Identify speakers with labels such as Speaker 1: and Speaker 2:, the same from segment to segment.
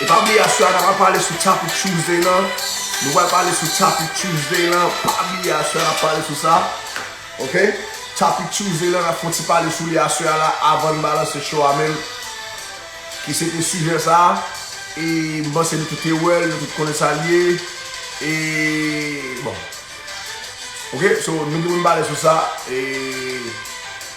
Speaker 1: E pa bliye aswè a na pral pale sou Topic Tuesday lan Nou pral pale sou Topic Tuesday lan Pa bliye aswè a na pale sou sa Ok Topic Tuesday lan nap fon ti pale sou li aswè a la avann balanse show a menm Ki se te sijè sa E m panse nou tout te wèl nou tout konnen sa l ye E bon Ok so nou gen pou nou pale sou sa E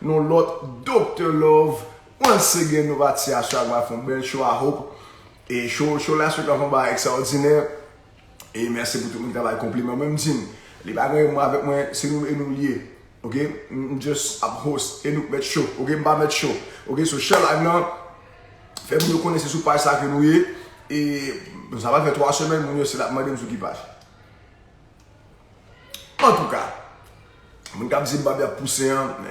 Speaker 1: Nou lòt Doctor love once again nou pa ti aswè a pral fon bèl show a hope e show show last week lan fon bagay extraordinè e mèsi pou tout moun ki ta bay konpliman mwen m di n li pa gen mwen avèk mwen se nou e nou liye ok m just ap host e nou k mèt show ok m pa mèt show ok so share live lan fè moun yo konnen se sou paj sa ke nou ye e sa pral fè 3 semèn moun yo se lap mande m sou ki paj. Antouka Moun kap di Mbappé ap pouse an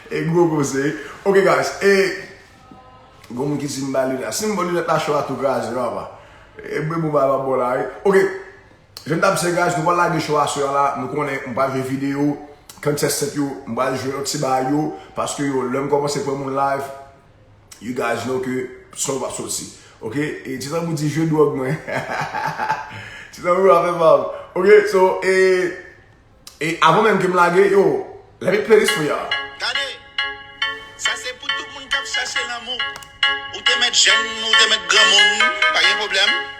Speaker 1: E gwo koze Ok guys E Gon moun ki di mba lunette Sim bon lunette la cho a tou kraze papa E bwe bouba pap bon la wi Ok Jan m tap di guys nou pral lage cho a soya la Nou konnen m pral jwe video Contestant yo m pral jwe yon ti bagay yo Paske yo lèm komanse pran moun live You guys know ke son pap soti. Ok, e ti tanbou di jwe drog mwen. Ti tanbou pa fè pa ou. Ok, so e, e avan menm ke m lage, yo, let me play this for
Speaker 2: y'all.
Speaker 1: Gade,
Speaker 2: sa se pou tout
Speaker 1: moun
Speaker 2: kap chache lanmou. Ou te mèt jèn, ou te mèt granmoun, pa gen pwoblèm.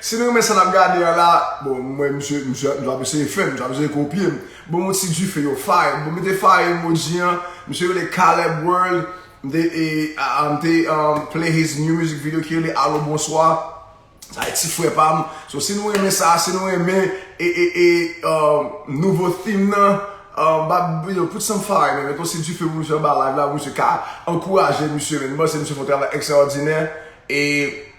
Speaker 1: Si n renmen sa n ap gade an la, bon m wè misye misye ap eseye fè m, misye ap eseye kopye m. Ban m yon ti dife yo fire, bon mete fire emoji an, misye rele Caleb World, m te e m te play his new music video ki rele Alo Bonswa, sa e ti frè pa m. So si nou renmen sa, si nou renmen e e e nouvo theme nan, ba yo put some fire man, met yon ti dife pou misye anba live la pou misye ka ankouraje misye man, m panse misye fè yon travay ekstraòdinè e.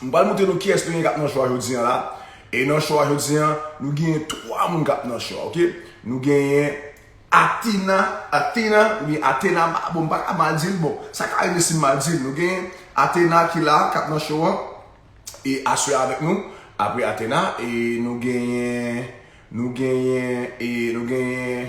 Speaker 1: M pral moutre nou kiyès nou gen kap nan cho a jodi an la e nan cho a jodi an nou genyen 3 moun kap nan cho a ok nou genyen Atina Atina ou byen Atena bon m paka mal dil bon sa ka rive si m mal dil nou genyen Atena ki la kap nan cho an e aswè a avèk nou apre Atena e nou genyen nou genyen e nou genyen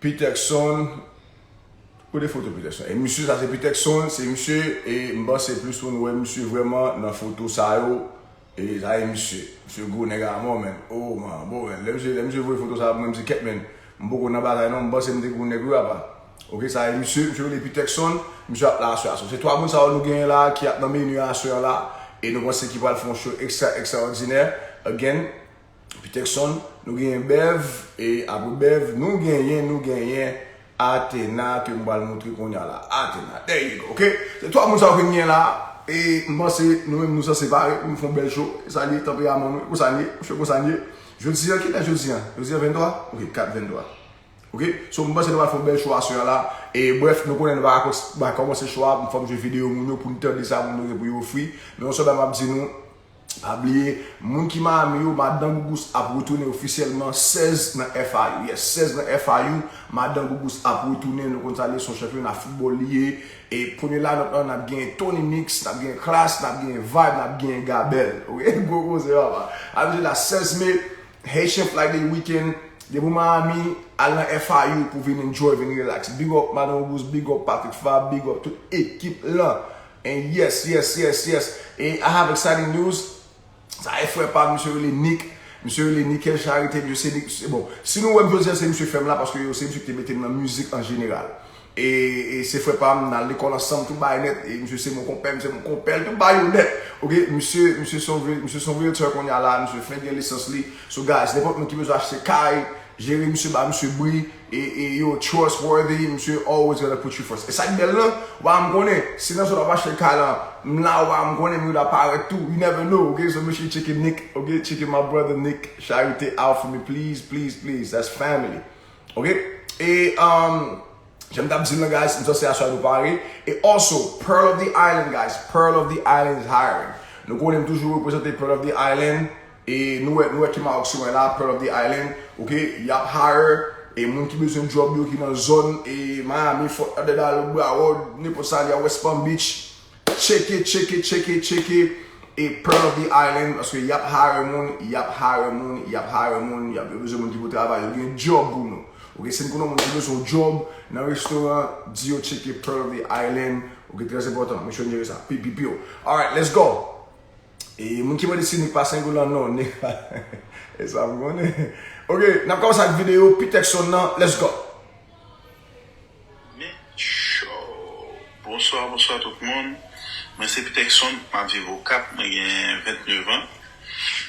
Speaker 1: Peterson Kote foto Peterson e misye sa se Peterson se misye e m panse plis moun wè misye vrèman nan foto sa yo e sa e misye misye gwo nèg amò menn oo man bon menn lè misye lè misye voye foto sa a pou mwen m di kèt menn m poko nan bagay non m panse m te gwo nèg wi apa ok sa e misye misye rele Peterson misye ap la aswè a so se 3 moun sa yo nou genyen la a ki ap nan menu a aswè an la a e nou panse ki pral fè yon show extra extraordinaire again Peterson, nou genyen Bev, e apre Bev, nou genyen, nou genyen Athena ke m pral montre kounya la. Athena, there you go, ok? Se 3 moun sa yo ke m genyen la a, e m panse nou menm nou sanse pare pou nou fè yon bèl show. E sa l ye, tanperaman nou, e konsa n ye, msye konsa n ye. Jodi an, ki lè jodi an? Jodi an 23? Ok, 4 23. Ok, so m panse nou pral fè yon bèl show aswè an la. E brèf, nou konnen nou pa ka kòmanse show a, m fò m jwe video moun yo pou n tande sa moun yo gen pou yo ofri. Men yon sèl bagay m ap di nou. Pa bliye Moun ki Miami yo madan Gougous ap retounen ofisyèlman 16 nan FIU yes 16 nan FIU madan Gougous ap retounen nou konn sa l ye son chanpyona foutbòl li ye e premye line-up lan nap genyen Tony Mix nap genyen Klass nap genyen Vibe nap genyen Gabel ok gwo koze papa a mesye da 16 me Haitian Flag Day weekend depi w Miami al nan FIU pou vin enjoy vin relax big up madan Gougous big up Patrick Fabre big up tout ekip lan. And yes yes yes yes et I have exciting news sa e frè pam misye rele Nick misye rele Nickel Charité misye se Nick bon si nou wèm jodi an se misye fèm la paske yo se misye ki te metem nan mizik an jeneral e se frè pam nal lekòl ansanm tout bagay nèt e misye se mon konpèm se mon konpèl tout bagay yo nèt ok misye misye son misye son realtor kounye a la misye fenk gen lisans li so guys nenpòt moun ki bezwen achte kay jere misye ba misye bri. E yo trustworthy, misye always gonna put you first. E sak bèl lan, wa m konnen, si nan zòn wap achte kay lan, m la wa m konnen mwen ta parèt tou, you never know ok, so make sure you checke Nick ok, checke my brother Nick Charité out for me please, please, please, that's family ok. E umm janm tap di l lan guys, m san se aswè a nou pare, e also Pearl of the Island guys, Pearl of the Island is hiring, nou konnen m toujou reprezante Pearl of the Island. E nou wè nou wè ki Maroc se wè la pearl of the island ok yap hire e moun ki bezwen job yo ki nan zòn e Miami Fort Lauderdale Broward nenpòt sa li a West Palm Beach tcheke tcheke tcheke tcheke e pearl of the island paske yap hire moun yap hire moun yap hire moun yap yo bezwen moun ki pou travay yo gen job pou nou ok si nou konnen yon moun ki bezwen yon job nan restoran di yo tcheke pearl of the island ok trèzenpòtan mesye an jere sa pi pi piu alright let's go. E moun ki mande si Nick pa sengolan non Nick pa E sa m konnen Ok n ap kòmanse ak videyo Pitex son nan Let's go Nick Show
Speaker 3: Bonswa bonswa tout moun Mwen se Pitex son m ap viv Okap mwen gen 29 an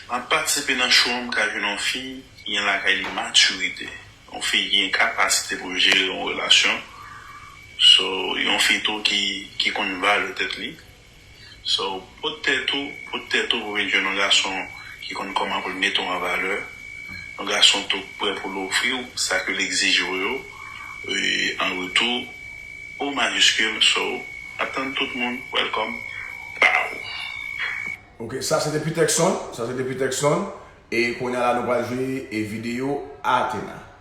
Speaker 3: M ap patisipe nan show an m ka jwenn yon fi ki gen lakay li matirite yon fi ki gen kapasite pou l jere yon relasyon So yon fi tou ki konn vale tèt li. So pot tèt ou, pot tèt ou pou vin jwenn yon gason ki konn kòman pou l mete w an valè, yon gason tou k prè pou l ofri w sa ke l egzije w yo an retou, O majiskil, So, ap tann tout moun, Welcome, Pow! Ok, sa se te Peterkson,
Speaker 1: sa se te Peterkson, e kounye a la nou pral jwe video Athena.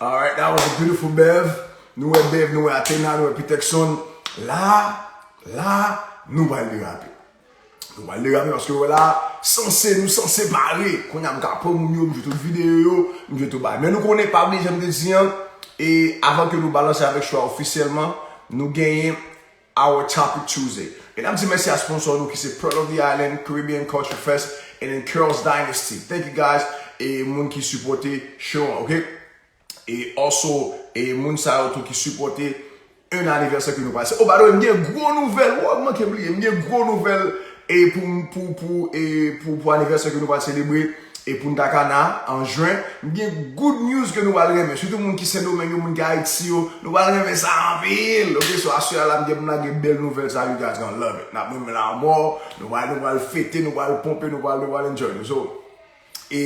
Speaker 4: Alright that was a
Speaker 1: beautiful Bev Nou wè Bev, nou wè Athena, nou wè Peterson La, la Nou pral derape Nou pral derape paske wè la Sanse, nou sanse pare Kounye a m ka pran moun yo, m jwe tout videyo yo M jwe tout bagay Men nou konnen pa bliye jan m te di an E avan ke nou balanse avèk chwa ofisyèlman Nou genyen Our Topic Tuesday Mesdames di mèsi a sponsor nou ki se Pearl of the Island, Caribbean Culture Fest and then Carol's Dynasty Thank you guys e moun ki sipote show an ok e also e moun sa yo tou ki sipote 1 anivèsè ke nou pase oh by the way m gen gwo nouvèl woo m manke bliye m gen gwo nouvèl e pou pou pou e pou pou anivèsè ke nou pral selebre. E Punta Cana an Juin, m gen good news ke nou pral renmen, sitou moun ki Sendomeng yo, moun ki Ayiti yo, nou pral renmen sa anpil! Ok, so aswè a la m gen pou m lage bèl nouvèl sa a, you guys gonna love it, n ap renmen l amò, nou pral nou pral fete, nou pral ponpe, nou pral nou pral enjoy nou, so e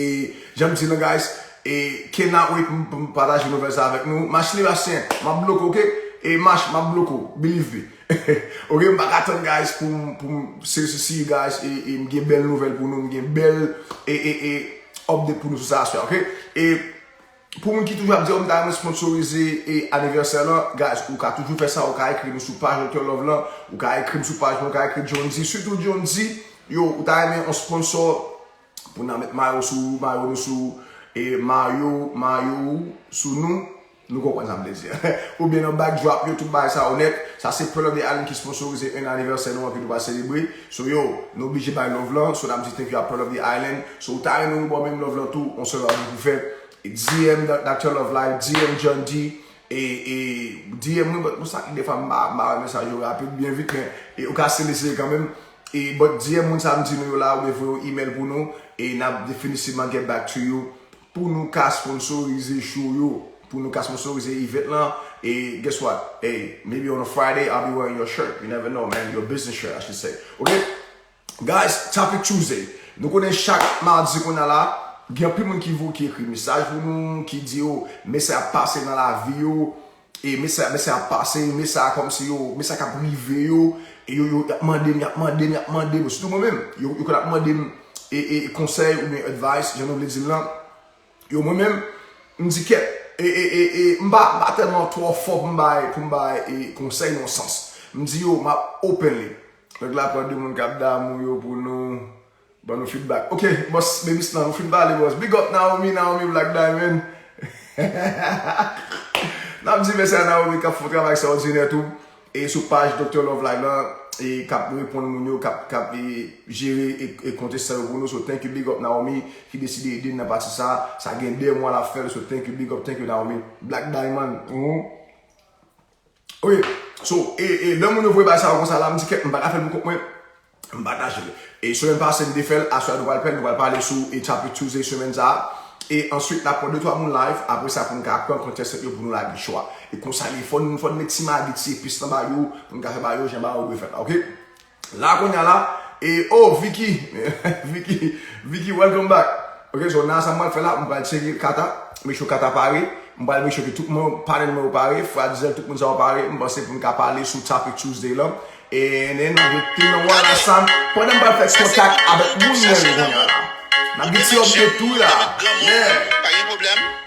Speaker 1: jan m di nou guys, e cannot wait pou m pataje nouvèl sa a avèk nou, Mach Libastien, m ap bloke w ok, e Mach m ap bloke w, believe me. Ok m paka tann guys poum poum sesi guys e m gen bèl nouvèl pou nou m gen bèl e e e update pou nou sou sa aswè ok e pou moun ki toujou ap di yo m ta renmen sponsorize e anivèsè lan guys ou ka toujou fè sa ou ka ekri nou sou paj Doktè Love lan ou ka ekrim sou paj mwen ou ka ekri Jhondy sitou Jhondy yo ou ta renmen yon sponsor pou nan met mayo sou mayo nou sou e mayo mayo sou nou. Nou konprann sa m vle di a. Oubyen nan backdrop yo tout bagay sa yo nèt. Sa se Pearl of the Island ki sponsorize 1 anivèsè nou an ke nou va selebre. So yo, nou oblije bay love lan. So nap di thank you a Pearl of the Island. So ou ta renmen nou baw menm love lan tou, on sèl bagay pou fè. DM Doctor Love Life, DM John D. E e DM mwen but pou sa dèfwa m pa ba mesaj yo rapid byen vit men e ou ka still eseye kanmenm. E but DM moun sa m di nou yo la oubyen voye yon email pou nou e nap definitivman get back to you. Pou nou ka sponsorize show yo. Pou nou ka sponsorize event lan. E guess what? Hey, maybe on a Friday I'll be wearing your shirt. You never know man. Your business shirt I should say. Ok? Guys, Topic Tuesday. Nou konnen chak mardi konye a la, gen anpil moun ki ekri mesaj pou nou, ki di yo mesaj ap pase nan lavi yo. E mesye a mesye a ap pase e mesye a kòmsi yo mesye a kap rive yo e yo yo yap mandem yap mandem yap mandem sitou mwen menm yo yo konn ap mandem e e konsèy oubyen advice jan nou vle dil lan yo mwen menm m di kèt e e e e m pa m pa tèlman twò fò pou m bay pou m bay e konsèy nan yon sans m di yo map openly Nèg la pran de moun kap damou yo pou nou. Ban nou feedback ok boss baby slan ou fin pale boss big up Naomi Naomi black diamond nap di mèsi a Naomi kap fon travay sa odinè tou e sou paj Doctor Love Live lan e kap reponn moun yo kap kap e jere e konte sa yo pou nou so thank you big up Naomi ki deside ede nan pati sa sa gen 2 mwa lap fèl so thank you big up thank you Naomi black diamond ou Ok, so, e, e, lè moun yo voye bagay sa yo konsa la, m di kèk, m pa ka fè l pou kont mwen, m pataje l. E semèn pase m te fè l, aswè a nou pral fè l, nou pral pale sou e Topic Tuesday semèn sa a. E answit n ap pran de twa moun live, apre sa pou n ka pran contestant yo pou nou lage chwa. E konsa l ye, fò n, fò n met ti magi, ti epis nan bagay yo, pou n ka fè bagay yo jan bagay yo dwe fèt la, ok. La konya la e oh Vicky Vicky Vicky welcome back ok so nan sa m pral fè la m pral tcheke kata make sure kata pare m pral make sure ke tout moun panel mwen yo pare fratzel tout moun sa yo pare m panse pou n ka pale sou topic Tuesday lan and then nan gen ti nan wala sa m pandan m pral fè kontak avèk moun mwen yo konya la n ap gen ti update tou la yeah.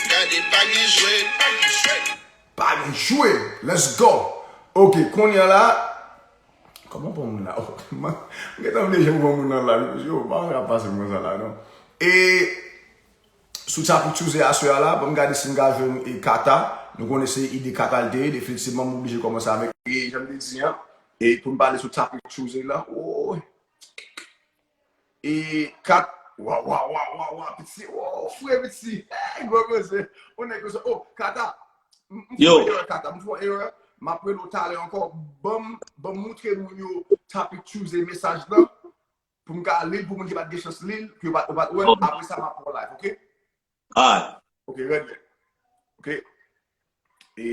Speaker 2: Gade pa
Speaker 1: gen jwe, pa gen jwe. Pa gen jwe, let's go. Ok konya la, koman pran moun la oh man m gentan bliye jan m pran moun nan live yo mesye oh pa gen sa kap pase m konsa la non e sou sa pou tyouse aswè a la banm gade si m ka jwenn e kata nou konnen se ide kata l te ye definitivman m oblije kòmanse avèk e janm te di an e pou n pale sou sa pou tyouse la ooy. E 4 Wa wa wa wa wa piti woo fre piti hey gwo koze ou nèg koze oh kata m fè yon
Speaker 5: erè kata m fè yon erè
Speaker 1: m ap rele w talè ankò ban m moutre moun yo topic chooze mesaj lan pou m ka li l pou moun ki pa t gen chans li l ki yo pa t wè l apre sa m ap pran w live ok. Alright.
Speaker 5: Ok, red.
Speaker 1: Ok. E,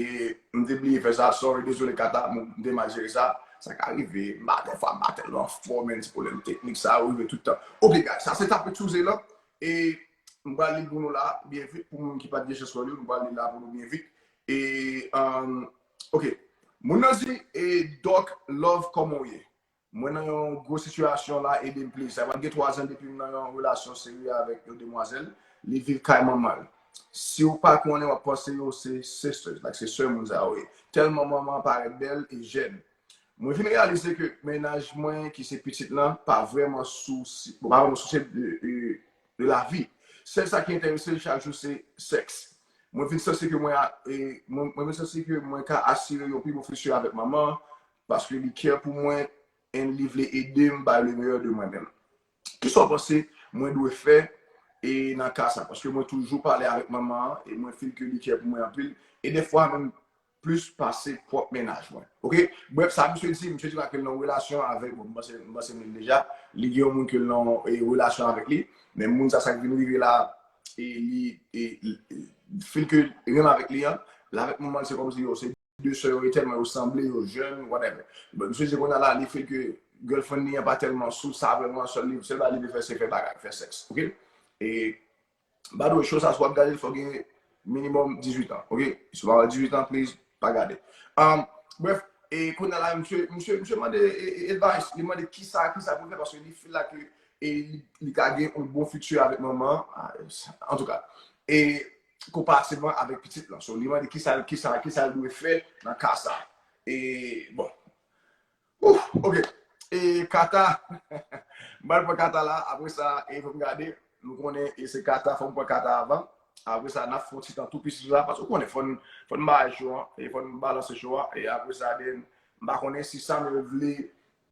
Speaker 1: m te bliye fè sa, sorry, dezole Kata, m te mal jere sa. Sa ka rive, m pa dèfwa, m pa tèlman fò men, ti pwoblèm teknik sa yo rive tout tan. Ok guys, sa se Tape Sou Zela, e m pral li l pou nou la byen vit, pou moun ki pa t gen chans wè l yo, m pral li l la pou nou byen vit. E, ok, moun nan di, e Doc Love kòman w ye? Mwen nan yon gwo sitiyasyon la edem pliz. Sa pral gen 3 ans depim nan yon relasyon serye avèk yon demwazèl li viv kay manmanl. Siw pa konnen wap panse yo se sisters like se sè moun sa yo ye. Tèlman manman an parèt bèl e jèn. Mwen vin reyalize ke mennaj mwen ki se pitit lan pa vrèman sousye bon pa vrèman sousye de lavi. Sèl sa ki entèresel chak jou se sèks. Mwen vin sanse ke mwen vin sanse ke mwen ka asire yon pi bon futur avèk manman Paske li care pou mwen and li vle edem bay le meilleur de mwen menm. Kisa w panse mwen dwe fè e nan ka sa? Paske mwen toujou pale avèk manman an e mwen feel ke li care pou mwen anpil e defwa menm plis pase pwòp mennaj mwen. Ok. Bref sa misye di, misye di pa ke l nan yon relasyon avèk, bon m panse m panse m li deja, li gen yon moun ke l nan yon relasyon avèk li, men moun sa sa k vin rive la e li feel ke li menm avèk li an, l avèk manman l se kòmsi yo se. 2 sè yo e tèlman yo sanble, yo jèn, whatever. Misye se konnya la li feel ke girlfriend li an pa tèlman sou sa vrèman, sèl li, sèl bagay li vle fè se fè bagay, fè sèks, ok. E by the way show sa si wap gadel fòw gen minimum 18 ans ok, si ou pa gen 18 ans please pa gadel. Umm bref, e konnya la misye, misye, misye mande advice, li mande kisa, kisa pou l fè paske li feel la ke e li ka gen yon bon futur avèk manman an, antouka. E konpatibl avèk pitit lan. So, li mande kisa l, kisa, kisa l dwe fè nan ka sa. E, bon. Ouh! Ok. E, Kata, m pral pran Kata la, apre sa, e fè m gade, nou konnen, e se Kata, fò m pran Kata avan. Apre sa, n ap fè yon ti tan tou plis la, paske ou konnen, fò n, fò n bay cho a, e fò n balanse cho a, e apre sa, den, m pa konnen si Samuel vle,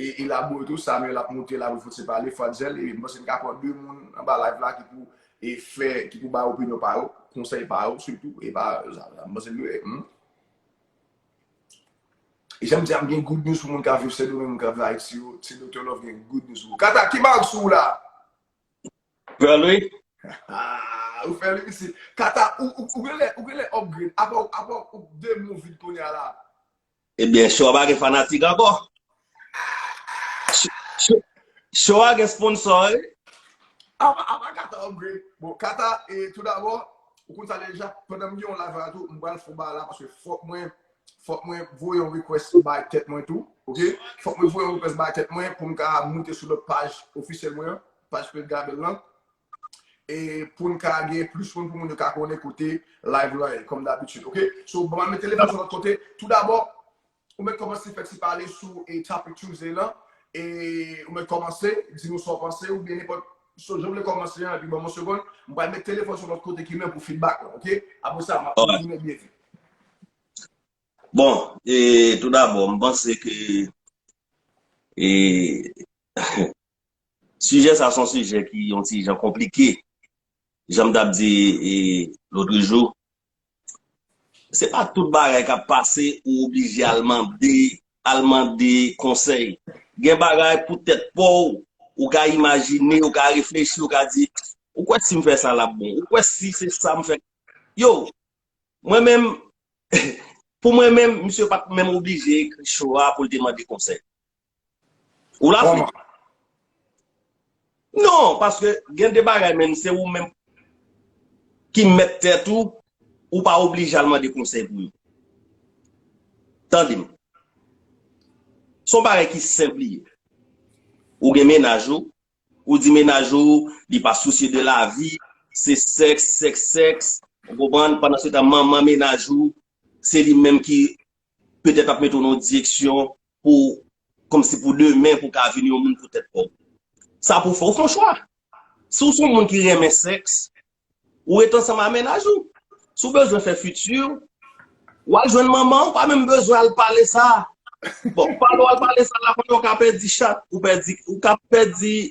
Speaker 1: E elabore tou Samuel ap moute la pou fout se pale fwa zel e m panse m ka pran 2 moun anba live la ki pou e fè ki pou bay opinyon pa yo konsèy pa yo sitou e pa m panse m ye humm. E janm di a m gen good news pou moun kap viv sendomeng moun kap viv ayiti yo ti Doktè Love gen good news pou ou Cata ki marque sou ou la?
Speaker 5: Girl wi.
Speaker 1: Aah ou fè li mesye Cata ou genlè ou genlè upgrade apaw apaw ou 2 mou vide kounya la. Ebyen
Speaker 5: show a pa gen fanatik ankò? Show a gen sponsor wi.
Speaker 1: Apa kata upgrade. Bon kata tout dabò ou konn sa deja pandan m gen yon live la tou m pral fon bagay la paske fòk mwen fòk mwen voye yon request bay tèt mwen tou ok fòk mwen voye yon request bay tèt mwen pou m ka moute sou lòt paj ofisyèl mwen an paj Pete Gabèl lan. e poun ka gen plis moun pou moun yo ka konnen kote live lan ye kòm dabitid ok so banm met telefòn sou lòt kote tou dabò ou mèt kòmanse fè ti pale sou e topic tuesday lan e ou mèt kòmanse di nou sa w panse oubyen nenpòt so jan w vle kòmanse an epi banm yon segond m pral met telefòn sou lòt kote ki menm pou feedback lan ok apre sa map kontinye byen vit. Bon
Speaker 5: e tou dabò m panse ke e Sijè sa son sijè ki yon ti jan konplike. Janm tap di lotrijou, se pa tout bagay kap pase ou oblije al mande, al mande konsèy. Gen bagay pou tèt paw, ou ka imajine, ou ka reflechi, ou ka di, ou kwè sim fè sa lap bon, ou kwè si se sa m fè. Yo, mwen menm, pou mwen menm, misye pat menm oblije ekri cho a poul te mande konsèy. Ou la fri? Non, paske gen de bagay menm se ou menm ki mèt tèt ou, ou pa oblije al mande konsèy pou yo. Tande m. Son bagay ki senp li ye. Ou gen menaj ou, ou di menaj ou li pa sousye de lavi, se sèks, sèks, sèks, ou konprann, pandan se tan manman menaj ou, se li menm ki Petèt ap mete w nan yon direksyon pou kòmsi pou demen pou w ka vin yon moun pou tèt pa w. Sa pou w fè, ou fè yon chwa. Si w se yon moun ki renmen sèks, ou ret ansanm a mennaj ou. Si w bezwen fè fiti, w al jwenn manman ou pa menm bezwen al pale sa. Bon, pale w al pale sa lakote ou ka pèdi chat, ou ka pèdi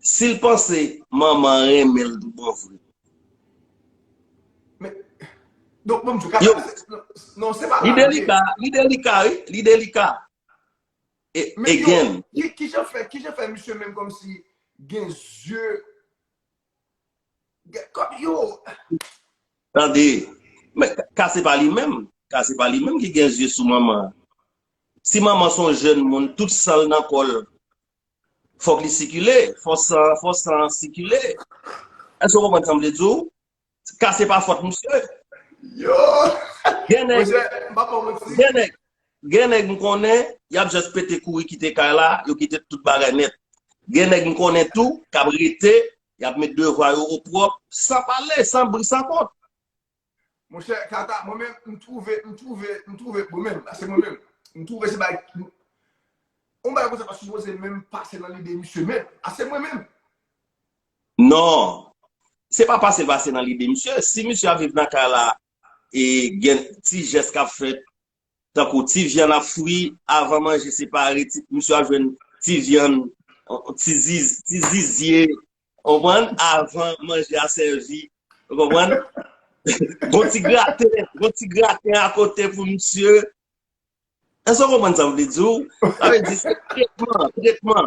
Speaker 5: Sil panse manman an renmen l tout bon vre.
Speaker 1: Men Donk mom chou kaka Non se pa la li ye. Li delika wi li delika
Speaker 5: Again. Kijan fè kijan
Speaker 1: fè misye menm komsi gen zye Gen kòm yo Tande
Speaker 5: Men ka se pa li menm Ka se pa li menm ki gen zye sou manman Si manman son jèn moun tout sanl nan kòl Fòk li sikile, fò san, fò san an sikile. Èske ou konprann sa m vle di ou? Ka se pa fòt misye. Yo!
Speaker 1: Gen nèg. Monchè, m pa pran
Speaker 5: manti. Gen nèg. Gen nèg m konnen, y ap jès pete kouri kite kay la, yo kite tout bagay nèt. Gen nèg m konnen tou, k ap rete, y ap met devwa yo opwòp, san pale, san bri, san kont. Monchè
Speaker 1: tata mwen menm m twouve m twouve m twouve mwen menm se mwen menm m twouve se bay yon bagay konsa pa sipoze menm pase nan lide misye menm a se mwen menm.
Speaker 5: Non se pa pase pase nan lide misye si misye ap viv nan kay la e gen ti jès kap fèt Tankou ti vyann ak fri avan manje separe ti misye ap jwenn ti vyann ti zizye ou konprann avan manje a sèvi ou konprann gon ti graten gon ti graten akote pou misye èske ou konprann sa m vle di w sa vle di se tretman tretman.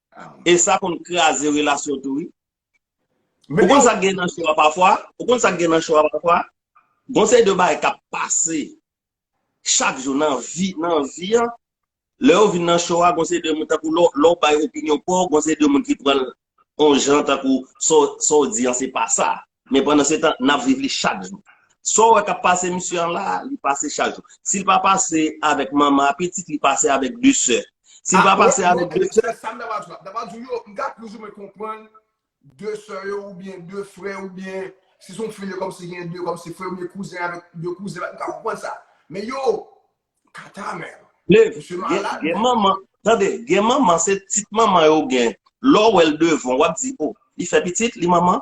Speaker 5: e sa konn kraze relasyon tou wi. Ou konn sak gen nan show a pafwa, ou konn sak gen nan show a pafwa, gon seri de bagay kap pase chak jou nan vi, nan vi an, lè yo vin nan show a gon seri de moun tankou lè w bay opinyon paw gon seri de moun ki pranl on jan tankou sa w di an se pa sa. Men pandan se tan, nap viv li chak jou. Sa w wè kap pase misye an la a, li pase chak jou. Si l pa pase avèk manman a pitit, li pase avèk de sè. Si l pa pase avèk de sè. Sa m ta va di w la. M ta va di w
Speaker 1: yo, m ka plis ou mwen konprann de sè yo oubyen de frè oubyen si s on fim yo kòmsi gen de kòmsi frè oubyen kouzen avèk de kouzen. M ka konprann sa. Men yo, kata menm. Liv, gen manman, tande,
Speaker 5: gen manman se tit manman yo gen. Lè w wè l devan w, wap di o, li fè pitit, li manman.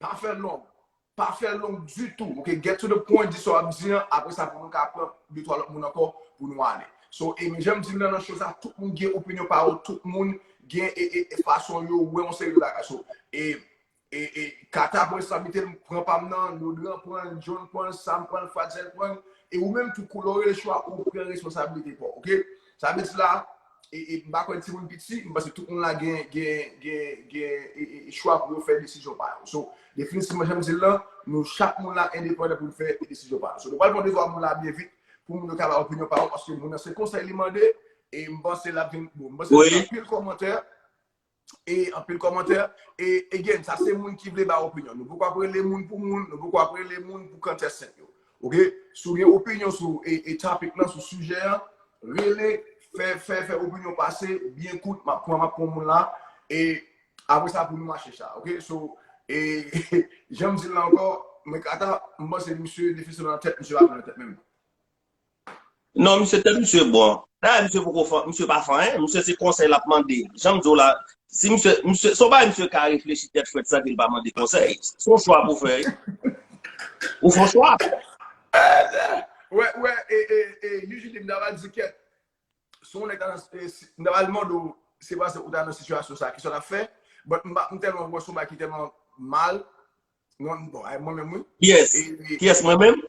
Speaker 1: Pa fè long. Pa fè long ditou. Ok, get to the point, di sa w ap di an, apre sa pou nou ka pran de twa lòt moun ankò pou nou ale. So, e m jan m di m nan nan show sa, tout moun gen opinyon pa yo, tout moun gen e fason yo wè yon seri de bagay. So, e, e, e, Cata pran reskonsabilite l, m pran pa m nan, Lodran pran l, John pran l, Sam pran l, Fratzel pran l, e ou menm tou kou lè w rele show a, ou pran reskonsabilite pa w, ok? Sa vle di la, e m pa kwè n timoun piti, m panse tout moun la gen gen chwa pou yo fè desizyon pa yo. So, definitivman jan m di l lan, nou chak moun la endepandan pou n fè desizyon pa nou. So nou pral pran devwa moun la byen vit pou moun yo ka bay opinyon pa yo paske moun nan se konsèy li mande e m panse l ap vin bon. M panse l ap gen anpil kòmantè. e anpil kòmantè e again sa se moun ki vle bay opinyon nou poko ap rele moun pou moun nou poko ap rele moun pou kantè sent yo ok si w gen opinyon sou e topic lan sou sijè an rele fè fè fè opinyon pase byen kout map pran map pran moun la e apre sa pou nou mache sa ok so e janm di l la ankò mwen kata m panse misye defisyon nan tèt misye pa nan tèt menm.
Speaker 5: Non misye tèt misye bon. Dayè misye poko fan, misye pa fan anyen, misye se konsèy lap mande. Janm diw la, si misye, misye, son bagay misye ka reflechi tèt frèt san kel pa mande konsèy. Son chwa pou fè. Ou fon chwa.
Speaker 1: Wè, wè, e, e, e, UJD m ta va di kèt. Si w nèg ta nan, m ta va mande w, se pa se ou ta nan sitiyasyon sa, kisa w tap fè? But m pa, m tèlman wè son bagay ki tèlman mal, mwen, bon, mwen menm wi. Kiyès? Kiyès
Speaker 5: mwen menm?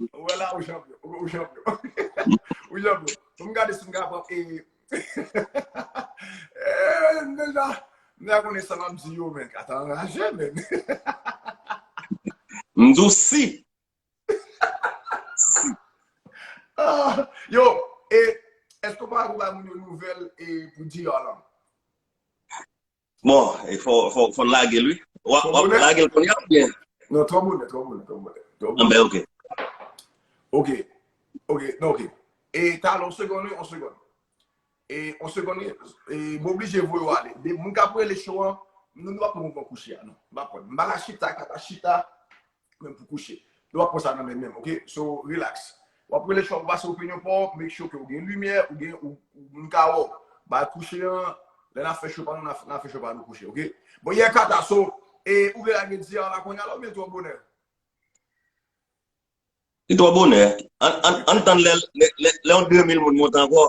Speaker 1: Ou wè la ou chanpyon. Ou chanpyon. Ou chanpyon. Fòm gade si m ka pran e... Eee, m deja... M deja konnen sa map di yo men. Ata anraje men.
Speaker 5: M di w si. Si.
Speaker 1: Ah, yo, e, eske w pa ka kou ba moun yo nouvèl e pou DR lan? Bon,
Speaker 5: e fò fò lagel wi. Wap Twò wap bonè? lagel konya ou bien? Non, twò bonè, twò
Speaker 1: bonè, twò bonè. Twò An bonè. ben ok.
Speaker 5: Ok,
Speaker 1: ok, non ok. E talè on segonn wi, on segonn. E on segonn wi, e m oblije voye ou ale. De moun kap rele show an, nou nou pa pran mouvman kouche a non. M pa pran. M pa ka chita, m pa ka chita. Menm pou kouche. Nou pap pran sa nan men menm ok. So relax. Wap rele chwa pou pase opinyon paw, make sure ke ou gen limyè, ou gen ou moun ka wèw. Bal kouche an, lè nap fè show pa nou nap fè show pa nou kouche ok. Bon yeah Cata so e ou vle lage di a la kounya la oubyen twò bonè?
Speaker 5: Li twò bonè. Ann tann lè yon 2000 moun monte ankò.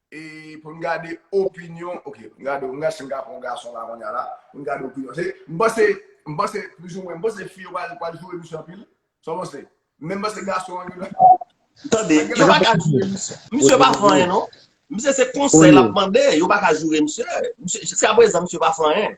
Speaker 1: E pou n gade opinyon, ok, m gade w, m gade si m ka pran yon gason la kounye a la, pou n gade opinyon. Se, m panse, m panse, plizoumwen, m panse fi yo pral, pral joure misye anpil. Sa w panse? Men m panse gason an li menm. Tande,
Speaker 5: yo pa ka joure misye. Misye pa fè anyen non. Misye se konsèy l ap mande, yo pa ka joure misye. Misye, jiskaprezan misye pa fè anyen.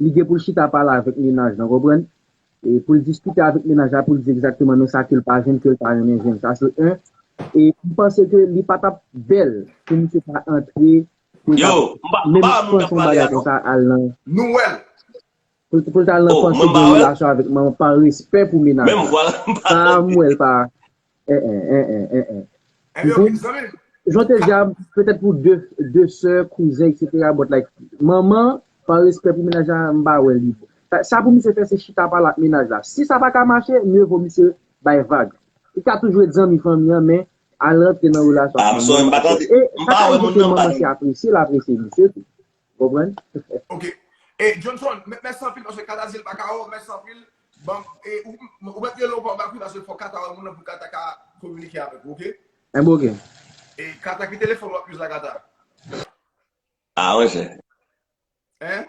Speaker 6: Li gen pou l chita pale avèk mennaj lan, konprann? E pou l diskite avèk mennaj la pou l di egzakteman men sa ke l pa jwenn ke l ta renmen jwenn. Sa se 1. E m panse ke li pa t ap bèl pou misye ta antre pou l ta
Speaker 5: menm panse yon bagay konsa al
Speaker 1: nan.
Speaker 6: Pou l ta al nan panse gen relasyon avèk manman pa respè pou mennaj la. Sa
Speaker 5: a m wè l pa
Speaker 6: Eh eh eh eh eh eh. Ebyen ok Mpou, zanmim. jan w te di a, petèt pou de, de sè, kouzen eksetera but like manman, pa respè pou mennaj la m pa wè li bon. Sa, sa pou misye fè se chita pale ak mennaj la. Si sa pa ka mache, mye vo misye bay vag. Li ka toujou ret zanmi fanmi an men al rantre nan relasyon ak manman an. Paske, e sa ka rive ke manman si apresye l apresye misye tou. Konprann? Ok.
Speaker 1: E Johnson, mèsi anpil paske Kata di l pa ka wè w, mèsi anpil. Banm e ou ou mèt rele w pa w bak wi paske fòk Kata wè moun nan pou Kata ka kominike avèk ou, ok? Enben ok. E
Speaker 6: Kata
Speaker 1: ki telefòn w ap use la Kata?
Speaker 5: Ah monchè. Hein?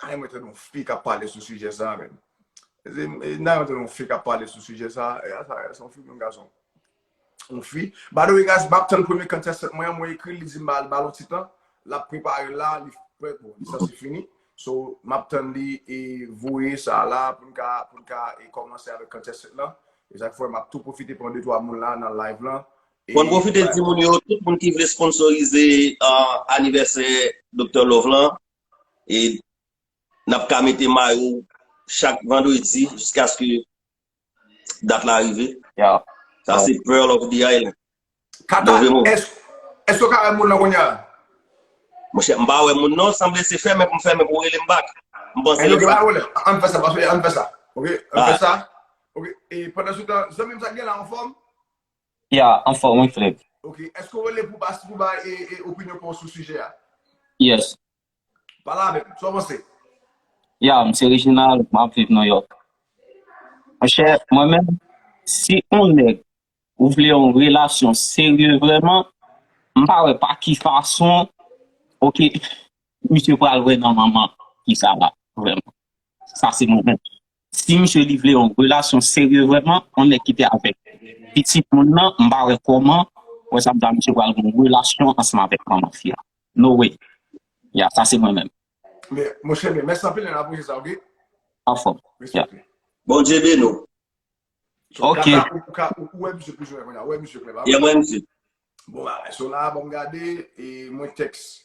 Speaker 1: Nan renmen tande yon fi kap pale sou sijè sa menn. Nan renmen tande yon fi kap pale sou sijè sa. E a sa, se yon fi oubyen yon gason? Yon fi. By the way guys, map tann premye contestant mwen an, mwen ekri l, li di m ba l yon ti tan. Lap prepare l la, li prè pou l. Sa se fini. So, map tann li e voye sa la pou n ka, pou n ka e kòmanse avèk contestant lan. E sa k fè map tou pwofite pran 2 3 moun la nan live lan. Mwen pwofite di
Speaker 5: moun yo, tout moun ki vle sponsorize anivèsè Doktè Love lan, e n ap ka mete mayo chak vandredi jiskaske dat la rive. Sa
Speaker 7: se Pearl
Speaker 5: of the Island. Kata,
Speaker 1: èske ou ka wè moun lan kounya? Monchè,
Speaker 5: m pa wè moun non, sanble se fèmen pou m fèmen pou rele m bak. M panse lè
Speaker 1: sa. An fè sa, an fè sa. Ok, an fè sa. Ok, pandan sou tan, zanmi m sa gen la anfòm? Ya
Speaker 7: anfòm wi frèm. Ok, èske w rele pou
Speaker 1: bas pou bay opinyon pa w sou sijè a? Yes.
Speaker 7: Pale
Speaker 1: avè m, sa w panse? Ya, m se
Speaker 7: Reginald, m ap viv Nouyòk. Monchè, mwen menm, si on nèg ou vle yon relasyon serye vrèman, m pa wè pa ki fason ok misye pral wè nan manman fi sa la vrèman. Sa se mwen menm. Si misye li vle yon relasyon serye vreman yon nèg ki te avèk pitit moun nan m pa wè kòman wè sa m ta misye pral gen yon relasyon ansanm avèk manman fi a no way ya sa se mwen menm. Men monchè
Speaker 1: men mèsi anpil nèg la pwojè sa ok. Anfòm
Speaker 7: ya. Bondye beni
Speaker 5: w.
Speaker 7: Ok. Ou
Speaker 1: wè misye plis ou wè kounye a ou wè misye klè pa vre? Ye m wè misye.
Speaker 5: Bon bagay. So
Speaker 1: la bon gade e mwen teks.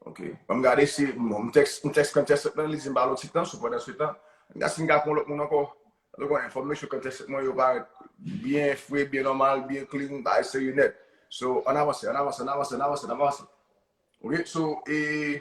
Speaker 1: Ok. Bon gade si bon teks, mwen teks kan teks nan li di mpa lò ti tan sou pandan se tan. Nga si nga kon lòt moun ankò. Lè kon enfòm mesye kan teks mwen yo parèt byen fre, byen nòmal, byen klin, bay se yon nèt. So an avanse, an avanse, an avanse, an avanse, an avanse. Ok. So e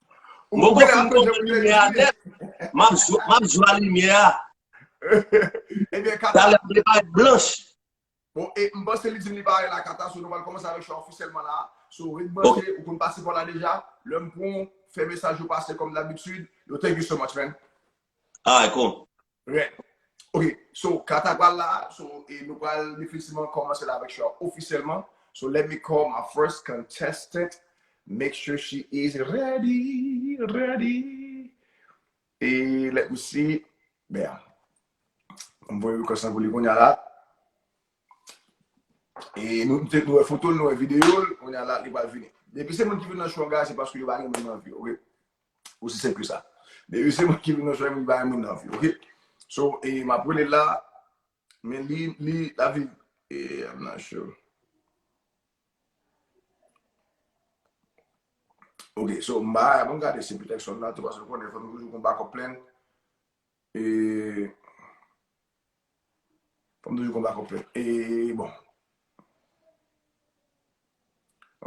Speaker 5: Mwen gò fin gò pou limye a net. Map jwa limye a.
Speaker 1: Kata la vle bay
Speaker 5: blanch. Bon, e
Speaker 1: mba se li di li bay la kata. Sou nou mal komanse avek chwa ofisyelman la. Sou rit banje, ou kon pase pou la
Speaker 5: deja.
Speaker 1: Lèm pon, fè mesaj ou pase kom labitud. Yo thank you so much man. Alright,
Speaker 5: cool. Rèd.
Speaker 1: Ok, so kat a pral la, so e nou pral definitivman kòmanse la avèk chwa ofisyèlman. So let me call my first contestant, make sure she is ready, ready. E let me see, bèm. M voye request lan pou li konya la. E nou te nou e fotol, nou e videol, konya la li pral vini. Depi se moun ki vin nan chwa guys, se paske yo pa gen moun nan vi, ok? Osi senp ke sa. Depi se mwen ki vin nan jwèm li bay moun nan vye ok. So e map relel la men li li la viv e I'm not sure. Ok so m ba a bon gade se petèk sòl la tou paske ou konnen fòk nou toujou gon backup plan. E Fanm toujou konba konplè e bon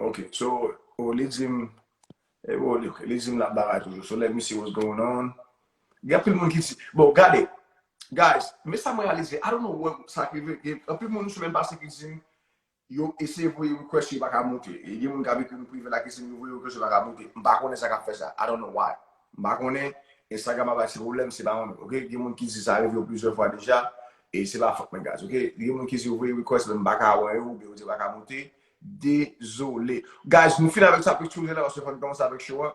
Speaker 1: Ok so oh li dim e bon li ok li dim lap bagay toujou so let me see what's going on Gen anpil moun ki di bon gade guys men sa mwen reyalize I don't know why sa k rive gen anpil moun sou menm pase ki dim Yo eseye voye request yo paka moute. E gen moun kap ekri nou prive la kesnm yo voye request yo paka moute. M pa konnen sa kap fè sa. I don't know why. M pa konnen. Instagram ap bay ti pwoblèm se pa mwen menm ok. Gen moun ki di sa rive yo plizyè fwa deja e se pa fòt mwen guys ok. Gen moun ki di yo voye request men m paka wè yo oubyen yo di yo paka moute. Dezole. Guys nou fin avèk sa picture la paske fò n kòmanse avèk show a.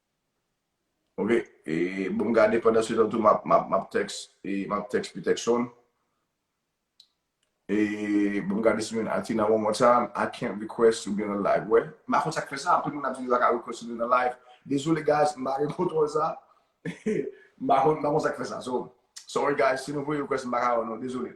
Speaker 1: Ok e bon m gade pandan se tan tou map map tex e map tex pu texon e bon m gade si mwen ati nan one more time I can't request to be on the live wè m pa konn sak fè sa anpil moun ap di yo pa ka request to be on the live dezole guys m pa gen kontrol sa m pa konn m pa konn sak fè sa so sorry guys si nou voye request m pa ka wè nou dezole.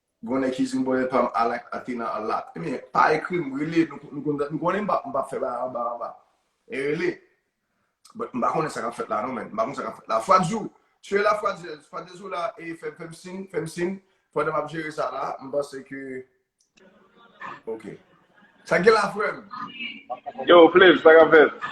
Speaker 1: Gon nèg ki dim bonè pam I like Athena a lot. Ebyen pa ekrim rele nou konnen mpap fè bagay anba anba. E rele. But mpa konnen sa kap fèt la non man. Mpa konnen sa kap fèt la. Fwadzou, tu es la fwadzèz? Fwadzèz ou la e fèm sin, fèm sin pandan map jere sa la. Mpanse ke Ok. Sa gen la frèm? Yo
Speaker 8: Flav sa kap fèt?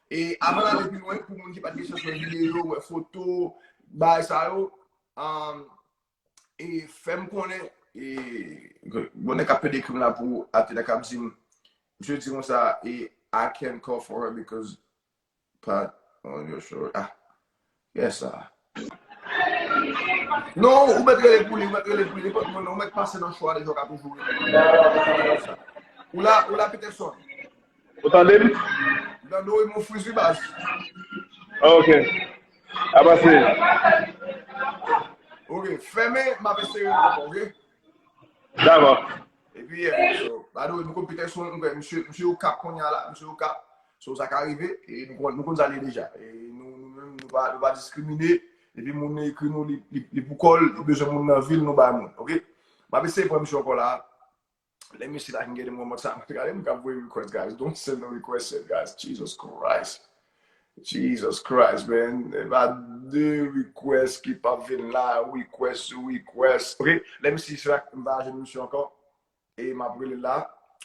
Speaker 1: E avan nale pi lwen pou moun ki pat gen chans wè video, wè foto, bagay sa yo, e fèm konnen, e bon nèg kap pede krim la pou Athéna kap dim, misye di konsa, e I can't call for her because Pat on your show, ah, Kè sa. Non ou mèt rele pou li ou mèt rele pou li nenpòt moun ou mèt pase nan show a deja ou ka toujou rele. Ou la ou la Peterson. Ou tande
Speaker 8: m? M tande w
Speaker 1: e m friz wi baz.
Speaker 8: Ok. Apa se.
Speaker 1: Ok, fèmen m ap eseye ankò ok. Dava.
Speaker 8: E pi
Speaker 1: yè, so, ba do, nou kon pite sou, nou kon, msye, msye ou kap kon yè la, msye ou kap, so sa ka rive, e nou kon, nou kon zale deja, e nou, nou men, nou pa, nou pa diskrimine, e pi moun nou ekri nou, li, li, li pou kòl, li bezwen moun nan vil, nou bay moun, ok? Map eseye pran msye ankò la. Let me see if I can get him one more time. Gade moun kap voye request guys, don't send no request yet guys, Jesus Christ. Jesus Christ man epa de request ki pap vin la request sou request ok lem si se ak m pa jwenn misye anko e map relel la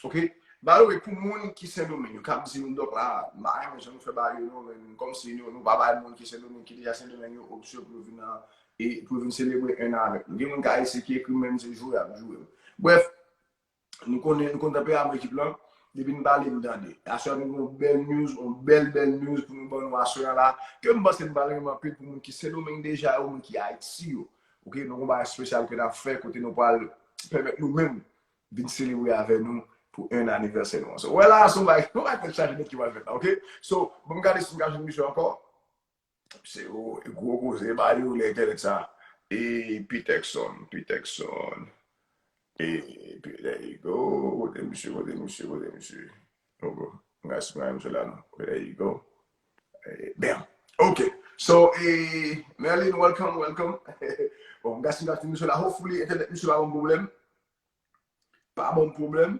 Speaker 1: ok by the way pou moun ki sendomeng yo kap dim dok la m pa renmen jan nou fè bagay yo non men komsi nou pa bay moun ki sendomeng ki deja sendomeng yo opsyon pou yo vin nan e pou yo vin selebre 1 an avek nou gen moun kayisyen ki ekrim menm se jwe yap jwe bref Nou konnen, nou konn tanperaman ekip lan, depi n pale nou tande. Aswè a nou gen yon bèl news, yon bèl bèl news pou nou ban nou aswè a la, ke m panse nou pral renmen anpil pou moun ki Sendomeng deja yo, moun ki Ayiti yo. Ok, nou gen yon bagay espesyal ke n ap fè kote nou pral pèmèt nou menm vin selebre avè nou pou 1 anivèsè nou an. So, wè la a se yon bagay, yon bagay tèt chaje nèt ki pral fèt la, ok. So, banm gade si m ka jwenn misye ankò. Se yon gwo koze ba yo lè entènèt sa e pi tèkson pi tèkson e pi there you go kote misye kote misye kote misye oh bro mga si mwen misye la non ok there you go e bam ok so e Merline welcome welcome bon mga si mwen misye la hopefully entènèt misye pa banm pwoblèm pa banm pwoblèm.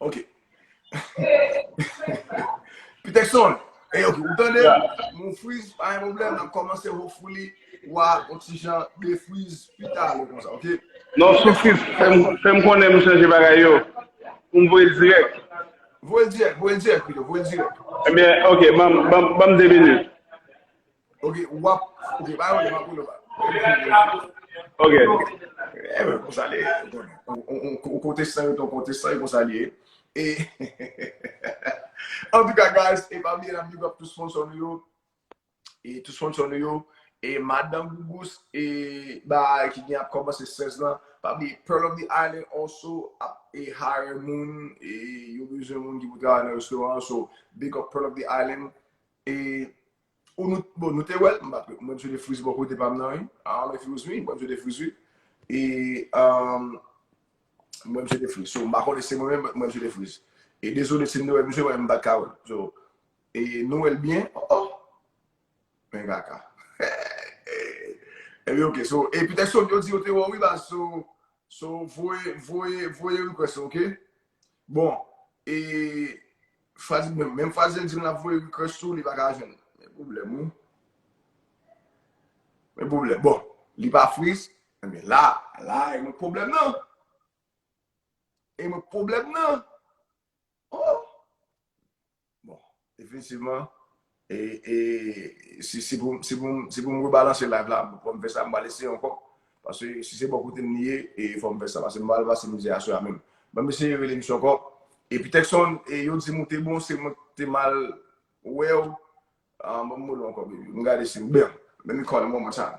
Speaker 1: Ok. Peterson, e ok, ou tande? Moun friz, pa yon problem, nan komanse ho fouli, wa, ou ti jan, de friz, pita, ou konsa, ok? Non, sou friz,
Speaker 8: fèm konnen mou chanje bagay yo, moun vwe direk. Vwe direk,
Speaker 1: vwe direk, vwe direk. E
Speaker 8: eh byen, ok, banm de minit. Ok,
Speaker 1: wap, ok, ba yon lèm apou lèm apou. Ok. E mwen konsa
Speaker 8: li,
Speaker 1: ou kote san yon ton kote san yon konsa li. E, an tou ka guys, e pa mi yon amigo ap tou son son yo, e tou son son yo, e madan gougous, e ba ki gen ap koman se 16 lan, pa mi Pearl of the Island also, ap e hire moun, e yon bizyon moun ki pou travay nan restoran, so big up Pearl of the Island, e... Ou nou, bon nou te wèl, mpa mwen msye te friz bò kote pam nan wi, I don't know if it was me, mwen msye te friz wi, e um mwen msye te friz, so mpa konnen si se mwen menm, mwen msye te friz, e dezole sim te wè msye men mpat ka wèl, so e nou wèl byen, oh oh men kaka Ebyen ok, so e petèt son yo di yo te wèw wi baz, so so voye voye voye request ok, bon e Fraz menm menm fraz li di lap voye request ou li pa ka jwenn. Men problem wi. Men problem. Bon, li pa freeze. Ebyen la, la e mwen problem nan. E mwen problem nan. Oh! Bon, definitivman E si pou m rebalanse live la, pou m fè sa, m pral eseye ankò. Paske si se bò kote m li ye, e fò m fè sa. Paske m pral pase mizè aswè a menm. Ban m eseye rele misye ankò. E pi Texon, e yo di m ou te bon, se mwen ki te mal wè w. Ban m rele w ankò baby. M gade si m byen. Let me call him one more time.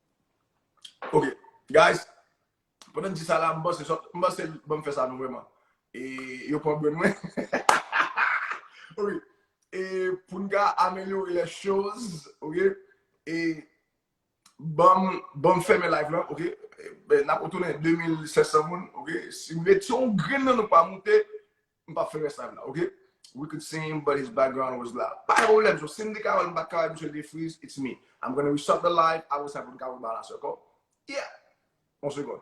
Speaker 1: Ok guys pandan m di sa la m panse sot m panse ban m fè sa non vrèman e yo pran brenn mwen ok e pou n ka amelyore les choses ok e ban m fèmen live lan ok n ap retounen 2700 moun ok si m ret si yon grenn nan nou pa moute M pap fè rès live la ok. We could see him but his background was loud Pa gen pwoblèm so sim te ka wèl m pat ka wèl misye te friz it's me I'm gonna restart the live apre sa poun ka rebalance ok Yeah on segond.